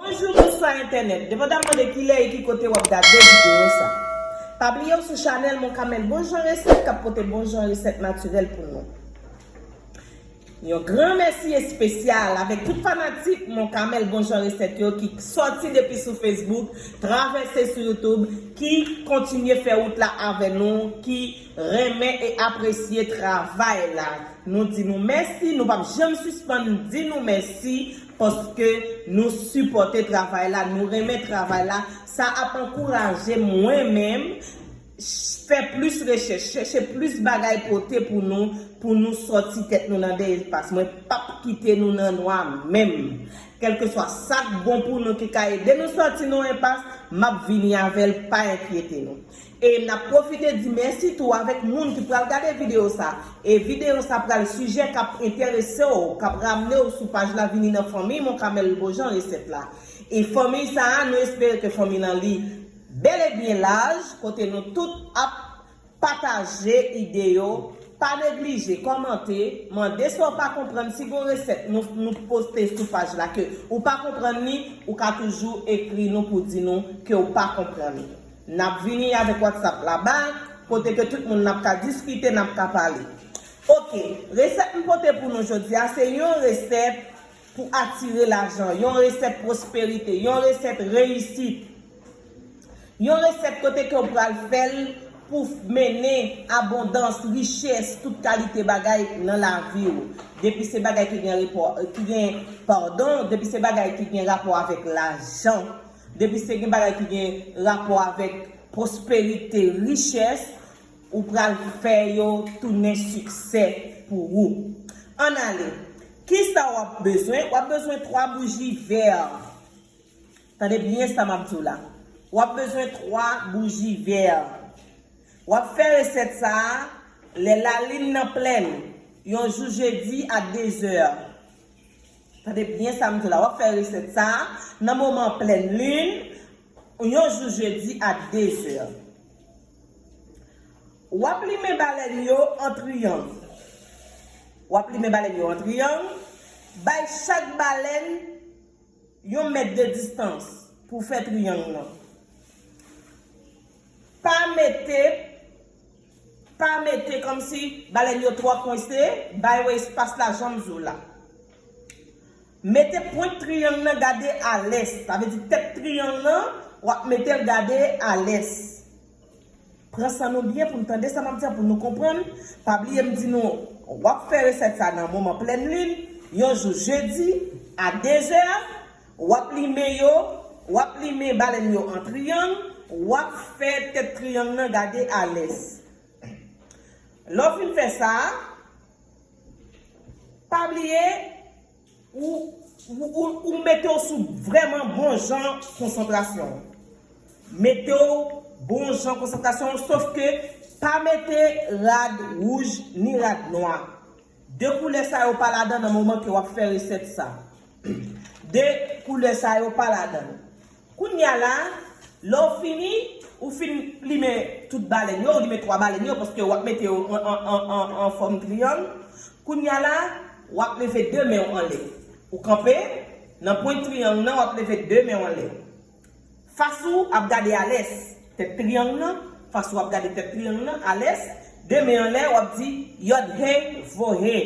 Bonjou bonswa entènèt devan ta mande kilè e ki kote wap gade videyo sa pa bliye ou sou chanèl monkamel bon jan resèt kap pote bon jan resèt natirèl pou nou. Yon gran mèsi espesyal avèk tout fanatik Mon Camel bon jan resèt yo ki sòti depi sou Facebook, travèse sou YouTube, ki kontinye fè wout la avè nou, ki renmen e apresye travay la. Nou di nou mèsi, nou pap janm sispann di nou mèsi paske nou sipòte travay la, nou renmen travay la, sa ap ankouraje mwen menm, Fè plis rechèch, chèche plis bagay pote pou nou, pou nou sòti tèt nou nan dèyè pas. Mwen pap kite nou nan nwa menm. Kèlkeswa sa k bon pou nou ki ka ede nou sòti nan enpas, m ap vini avè l, pa enkyete nou. E n ap pwofite di mèsi tou avèk moun ki pral gade videyo sa. E videyo sa pral sijè k ap enterese w, k ap ramne w sou paj la vini nan fanmiy Monkamèl Beaujean Resèt la. E fanmiy sa a, nou espere ke fanmiy lan li. Bel e byen laj kote nou tout ap Pataje ide yo pa neglije komante mande sa w pa konprann si gon reset nou nou poste sou paj la ke ou pa konprann li ou ka toujou ekri nou pou di nou ke w pa konprann li nap vini avek whatsapp la bay kote ke tout moun nap ka diskite nap ka pale ok reset m pote pou nou jodia se yon reset pou atire lajan, yon resèt pwosperite, yon resèt reyisit, yon resèt kote ke ou pral fè l pou mennen abondans, richès, tout kalite bagay nan lavi ou. Depi se bagay ki gen repò, ki gen, padon, depi se bagay ki gen rapò avèk lajan, depi se gen bagay ki gen rapò avèk pwosperite, richès, Ou pral fè yo tounen siksè pou ou. Ann ale. Kisa w ap bezwen? W ap bezwen twa bouji vè. Tande byen sa m ap di w la. W ap bezwen twa bouji vè. W ap fè resèt sa a lè lalin nan plen, yon jou jedi a dezè. Tande byen sa m di w la. W ap fè resèt sa a nan moman plen lin, yon jou jedi a dezè. W ap limen balèn yo an triyang. W ap limen balèn yo an triyang, bay chak balèn yon mèt de distans pou w fè triyang nan. Pa mete, pa mete kòmsi balèn yo twò kwense, bay yo espas la jan m di w la. Mete pwent triyang nan gade a lès. Sa vle di tèt triyang nan, w ap mete l gade a lès. Pran san nou byen pou n tande sa m ap di a, pou nou konprann. Pa bliye m di nou, w ap fè resèt sa nan moman plèn lin, yon jou jedi, a dezè. W ap limen yo, w ap limen balèn yo an triyang, w ap fè tèt triyang nan gade a lès. Lè w fin fè sa. Pa bliye ou mete w sou vreman bon jan konsantrasyon. Mete w bon jan konsantrasyon w sof ke pa mete rad wouj ni rad nwa. De koulè sa yo pa ladan nan moman ke w ap fè resèt sa. 2 koulè sa yo pa ladan l. Kounya la, lè w fini, ou fin limen tout balèn yo, ou limen 3 balèn yo paske wap mete yo an fòm triyang. Kounya la, wap leve 2 men w anlè. Ou kanpe nan pwent triyang nan, wap leve 2 men w anlè. Fas ou ap gade alès, tèt triyang nan, fas ou ap gade tèt triyang nan, alès, 2 men anlè, wap di, Yod-Heh, Voh-Heh.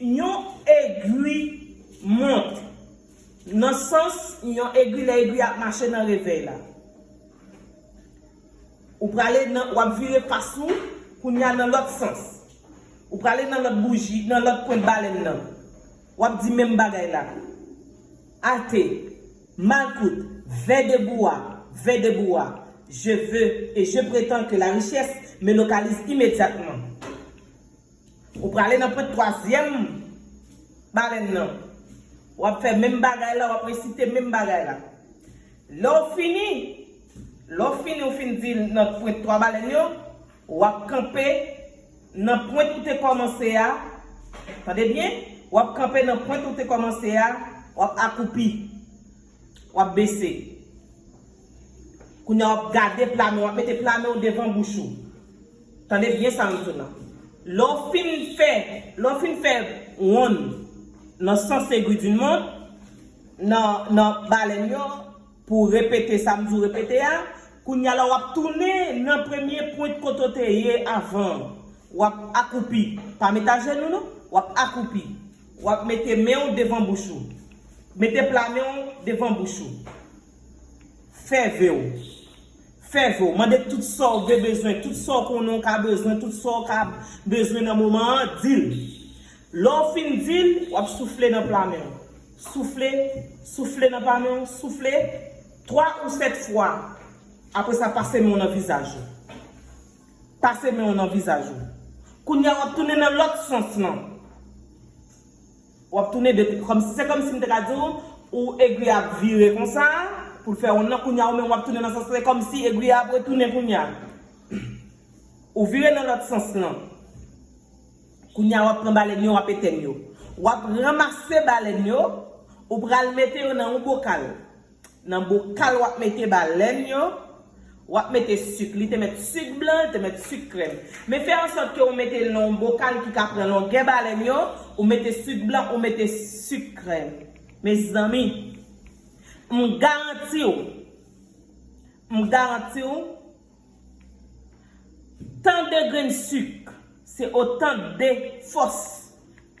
Yon egwi mont. Nan sans yon egwi lè egwi a ap mache nan revèy la. Ou prale nan w ap vire fas ou kounye a nan lòt sans. Ou prale nan lòt bouji nan lòt pwent balèn nan. W ap di menm bagay la. Alte, malkout, vè debou a, vè debou a. Je veux et je prétends que la richesse me localise immédiatement. Ou prale nan pwent twazyèm balèn nan. Wap fè menm bagay la, wap resite menm bagay la. Lè ou fini, lè ou fini ou fin di nan pwent twa balèn yo, wap kanpe nan pwent ou te kòmanse a, tande byen, wap kanpe nan pwent ou te kòmanse a, wap akoupi. Wap bese. Kounya wap gade pla men, wap mete pla men ou devan bouch ou. Tande byen sa map di w la. Lè w fin fè, lè w fin fè wonn nan sans egwi dun mont, nan, nan balèn yo, pou w repete sa m di w repete a, kounya la wap tounen nan premye pwent kote w te ye avan an. Wap akoupi. Pa met ajenou non. Wap akoupi. W ap mete men w devan bouch ou. Mete pla men w devan bouch ou. Fè ve w. Fè ve w. Mande tout sa w gen bezwen, tout sa w konnen w ka bezwen, tout sa w ka bezwen nan moman an, di l. Lè w fin di l, w ap soufle nan pla men w. Soufle, soufle nan pla men w, soufle. Twa ou sèt fwa. Apre sa, pase men w nan vizaj ou. Pase men w nan vizaj ou. Kounye a w ap tounen nan lòt sans lan. W ap tounen de. Se kòmsi m te ka di w, ou egwi a ap vire konsa pou l fè wonn nan. Kounye a ou menm w ap tounen nan sans lan. E kòmsi egwi a ap retounen kounye a. Ou vire nan lòt sans lan. Kounye a w ap pran balèn yo, w ap etenn yo. W ap ranmase balèn yo, ou pral mete yo nan yon bokal. Nan bokal wap mete balèn yo, wap mete suk. Li te met suk blan, li te met suk krèm. Men fè an sòt ke ou mete nan yon bokal ki ka pran longè balèn yo, ou mete suk blan, ou mete suk krèm. Mezanmi! M garanti ou, m garanti ou! Tan de grenn suk se otan de fòs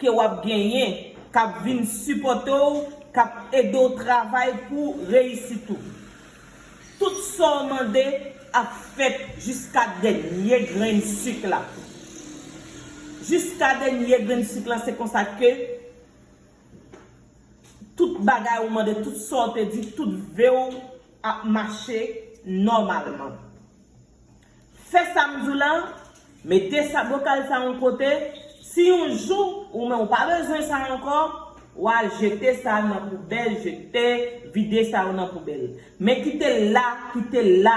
ke wap genyen kap vin sipòte w kap ede w travay pou w reyisit ou. Tout sa w mande ap fèt jiska dènye grenn suk la. Jiska dènye grenn suk la se konsa ke tout bagay ou mande, tout sa w te di, tout ve w. ap mache nòmalman. Fè sa m di w la, mete sa bokal sa yon kote, si yon jou ou men ou pa bezwen sa ankò, wa jete sa nan poubèl, jete, vide sa yo nan poubèl. Men kite l la, kite l la,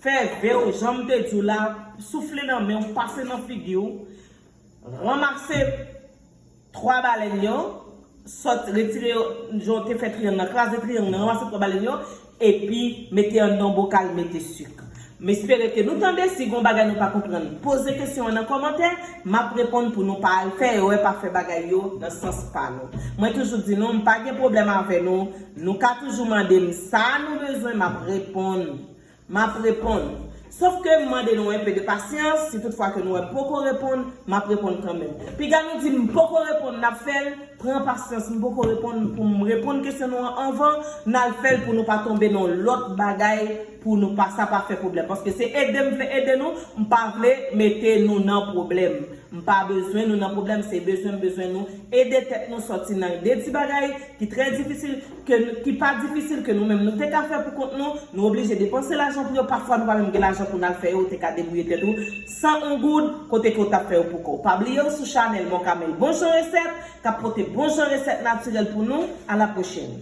fè ve w jan m te di w la, soufle nan men w, pase nan figi w, ranmase. 3 balèn yo, sot retire yo jan w te fè triyang nan, kraze triyang nan, ranmase 3 balèn yo, epi mete an nan bokal mete suk. M espere ke nou tande, si gon bagay nou pa konprann poze kesyon an nan kòmantè, m ap reponn pou nou pa al fè erè pa fè bagay yo nan sans pa nou. Mwen toujou di nou, m pa gen pwoblèm avè nou, nou ka toujou mande m sa nou bezwen m ap reponn, M ap reponn. Sof ke m mande nou enpe de pasyans, si tout fwa ke nou wè m poko reponn, m ap reponn kanmenm. Piga nou di m m poko reponn, n ap fè l, pran pasyans m poko reponn, pou m reponn kesyon nou an anvan, n al fè l pou nou pa tonbe nan yon lòt bagay, pou nou pa sa pa fè pwoblèm. Paske se ede m vle ede nou, m pa vle mete nou nan pwoblèm. M pa bezwen nou nan pwoblèm, se bezwen m bezwen nou ede tèt nou sòti nan de ti bagay ki trè difisil, ke ki pa difisil ke nou menm nou te ka fè pou kont nou, nou oblije depanse lajan pou yo, pafwa nou pa menm gen lajan pou nal fè yo, ou te ka debouye tèt ou san on goud, kote ke ou tap fè yo pou kòw. Pa bliye ou sou chanèl Mon Camel Bon Jan Resèt, kap pote bon jan resèt natirèl pou nou, a la pwochèn.